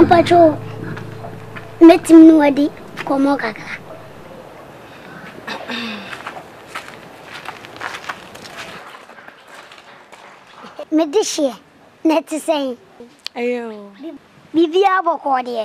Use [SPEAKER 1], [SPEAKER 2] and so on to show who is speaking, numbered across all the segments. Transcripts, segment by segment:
[SPEAKER 1] mpatsɔ mɛtumi ne wadi kɔmmɔ kakra mede hyeɛ na ɛte sɛn
[SPEAKER 2] biribiaa
[SPEAKER 1] bɔkɔɔ deɛ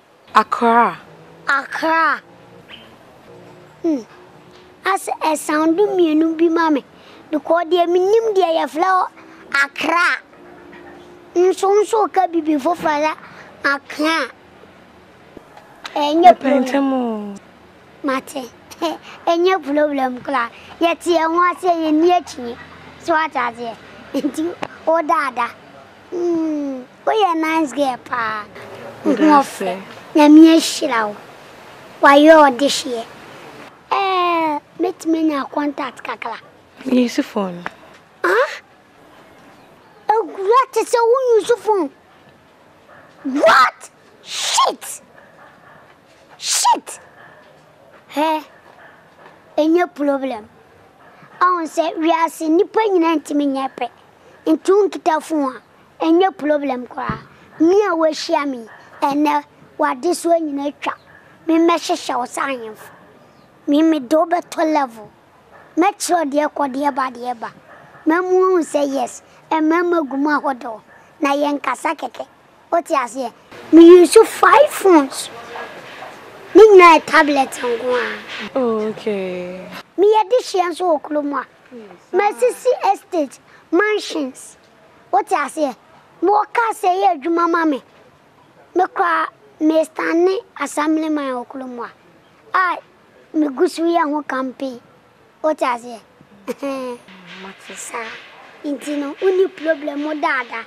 [SPEAKER 1] Accra.
[SPEAKER 2] Accra.
[SPEAKER 1] Hmm. As ɛsound mmienu bi ma me. Because deɛ menim deɛ yɛfrɛ hɔ Accra. Nso nso ka bibi foforɔ sɛ Accra. Ɛnyɛ problem.
[SPEAKER 2] Mate.
[SPEAKER 1] Ɛnyɛ problem koraa. Yɛte yɛn ho aseɛ yɛn ni akyi. So ate aseɛ. Nti wo daada. Hmm. Woyɛ nice girl paa wo ho ɔfɛ nyame ahyira wo wayɛ ɔdehyeɛ ɛɛ mɛtumi anya contact kakra. Me use
[SPEAKER 2] phone. Ah
[SPEAKER 1] Agura te sɛ wo use phone what shit shit hɛ ɛnyɛ problem ɔho sɛ wiase nipa nyina ntimi nyɛ pɛ nti wo nkita phone a. Ɛnyɛ problem koraa. Me a woahyia me yi, ɛnnɛ w'adesoa nyinaa atwa. Me mmɛhyehyɛ wo sɛ ahemfo. Me mede wo bɛtɔ level. Mɛkyerɛ wo deɛ ɛkɔ, deɛ ɛba, deɛ ɛba. Mɛma woahu sɛ yes, mmarima gu mu ahodoɔ. Na yɛnkasa kɛkɛ. Wote aseɛ? Me use five phones. Ne nyinaa yɛ tablet nko ara. Oh, okay.
[SPEAKER 2] Meyɛ dehyeɛ
[SPEAKER 1] nso wɔ kurom ha. Masisi estate, mansions. Wote aseɛ? Me wɔ car sɛ yɛ adwuma ma me. Me koraa me stande assemblyman wɔ kurom ha a me gu so yɛ ho campaign. Wote aseɛ? Ɛhɛn. Saa nti no wo nni problem wo da ada.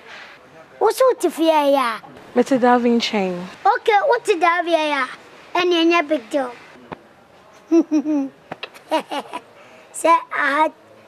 [SPEAKER 1] Wo nso wo te fie a ɛyɛ a? Mete Davie
[SPEAKER 2] nkyɛn. Ok wo te
[SPEAKER 1] Davie a ɛyɛ a? Ɛnneɛ ɛnyɛ big deal. Heheheheheh. Sɛ aha